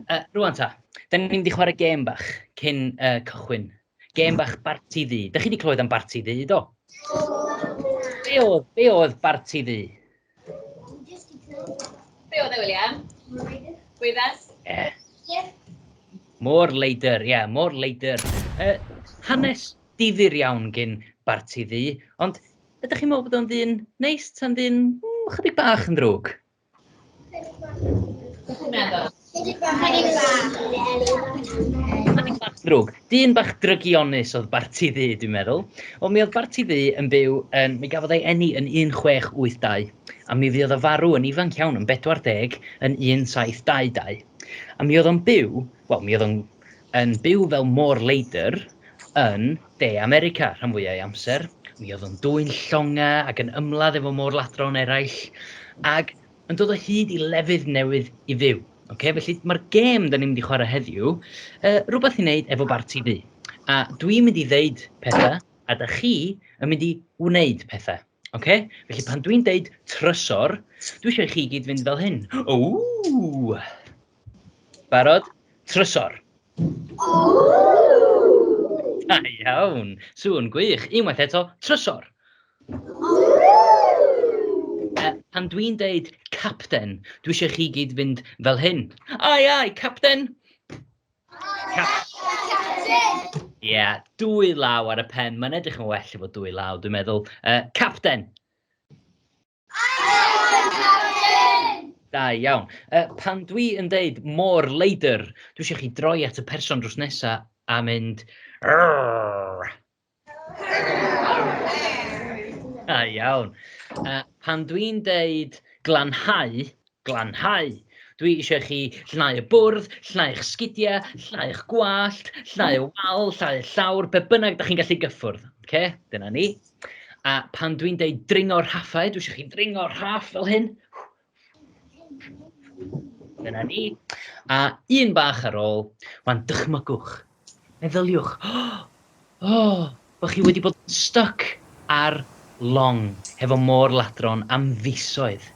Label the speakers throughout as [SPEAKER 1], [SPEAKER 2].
[SPEAKER 1] Uh, rwan ta, da ni'n mynd i chwarae gêm bach cyn uh, cychwyn. Gêm bach barti ddu. Da chi wedi clywed am barti ddu, do? Be oedd, be oedd barti ddu?
[SPEAKER 2] Be oedd e, William? Gwyddas? Ie. Yeah.
[SPEAKER 1] More later, ie, yeah, more later. Uh, hanes difyr iawn gyn barti ddi, ond ydych chi'n meddwl bod o'n ddyn neis ta'n ddyn mm, chydig bach yn ddrwg? Beth ydych chi'n
[SPEAKER 2] meddwl?
[SPEAKER 1] Cynnig bach. Drwg. Dyn bach drygionus oedd Barti Ddu, dwi'n meddwl. Ond mi oedd Barti Ddu yn byw yn... Mi gafodd ei eni yn 1682, a mi fuodd o farw yn ifanc iawn yn 40 yn 1722. A mi oedd o'n byw, wel, mi oedd o'n yn byw fel môr leidr yn De America rhan fwyaf ei amser. Mi oedd o'n dwyn llongau ac yn ymladd efo môr ladron eraill. Ac yn dod o hyd i lefydd newydd i fyw. Okay? Felly mae'r gêm da ni'n mynd i chwarae heddiw, uh, rhywbeth i wneud efo bar TV. A dwi'n mynd i ddeud pethau, a da chi yn mynd i wneud pethau. Okay? Felly pan dwi'n deud trysor, dwi eisiau i chi gyd fynd fel hyn. Ww! Barod? Trysor. Da iawn. Sŵn gwych. Unwaith eto, trysor. pan dwi'n deud capten, dwi eisiau chi gyd fynd fel hyn. Ai, ai, capten! Capten! Ie, yeah, dwy law ar y pen. Mae'n edrych yn well efo dwy law, dwi'n meddwl. Uh, capten! Da iawn. Uh, pan dwi yn deud mor leidr, dwi eisiau chi droi at y person drws nesaf a mynd... Rrrr. Da iawn. Uh, pan dwi'n deud glanhau, glanhau, dwi eisiau chi llnau y bwrdd, llnau'ch sgidiau, llnau'ch gwallt, llnau y wal, llnau y llawr, be bynnag da chi'n gallu gyffwrdd. Okay? Dyna ni. A pan dwi'n deud dringo rhaffau, dwi eisiau chi dringo rhaff fel hyn. Dyna ni. A un bach ar ôl, wan dychmygwch, meddyliwch, oh, oh, bod chi wedi bod yn stuck ar long hefo môr ladron am fisoedd.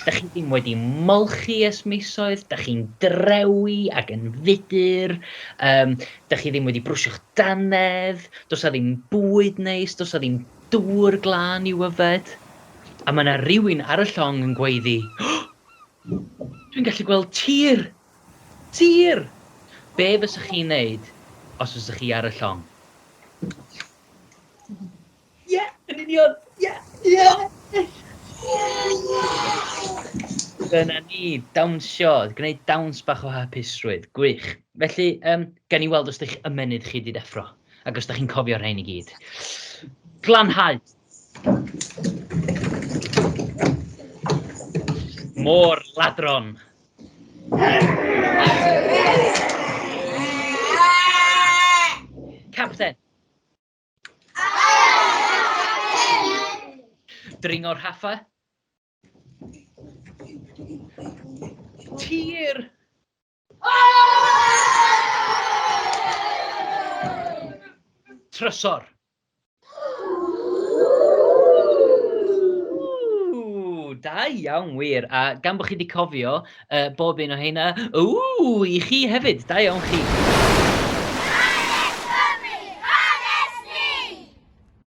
[SPEAKER 1] Da chi ddim wedi molchi es misoedd, da chi'n drewi ac yn fudur, um, da chi ddim wedi brwsio'ch danedd, dos a ddim bwyd neis, dos a ddim Dŵr glân i'w yfed. A mae 'na rywun ar y llong yn gweiddi, Dwi'n gallu gweld tir! Tir! Be' fysech chi'n neud os fysech chi ar y llong? Ie! Yn union! Ie! Ie! Dyna ni! Dawnsio! Gwneud dawns bach o hapusrwydd. Gwych. Felly, yym, gawn ni weld os 'di'ch ymennydd chi 'di deffro. Ac os da chi'n cofio rhain i gyd. Glanhau! Môr ladron! Capten! Dringo'r haffa! Tir! Trysor. da iawn wir, a gan bod chi wedi cofio uh, bob un o heina, ww, i chi hefyd, da iawn chi.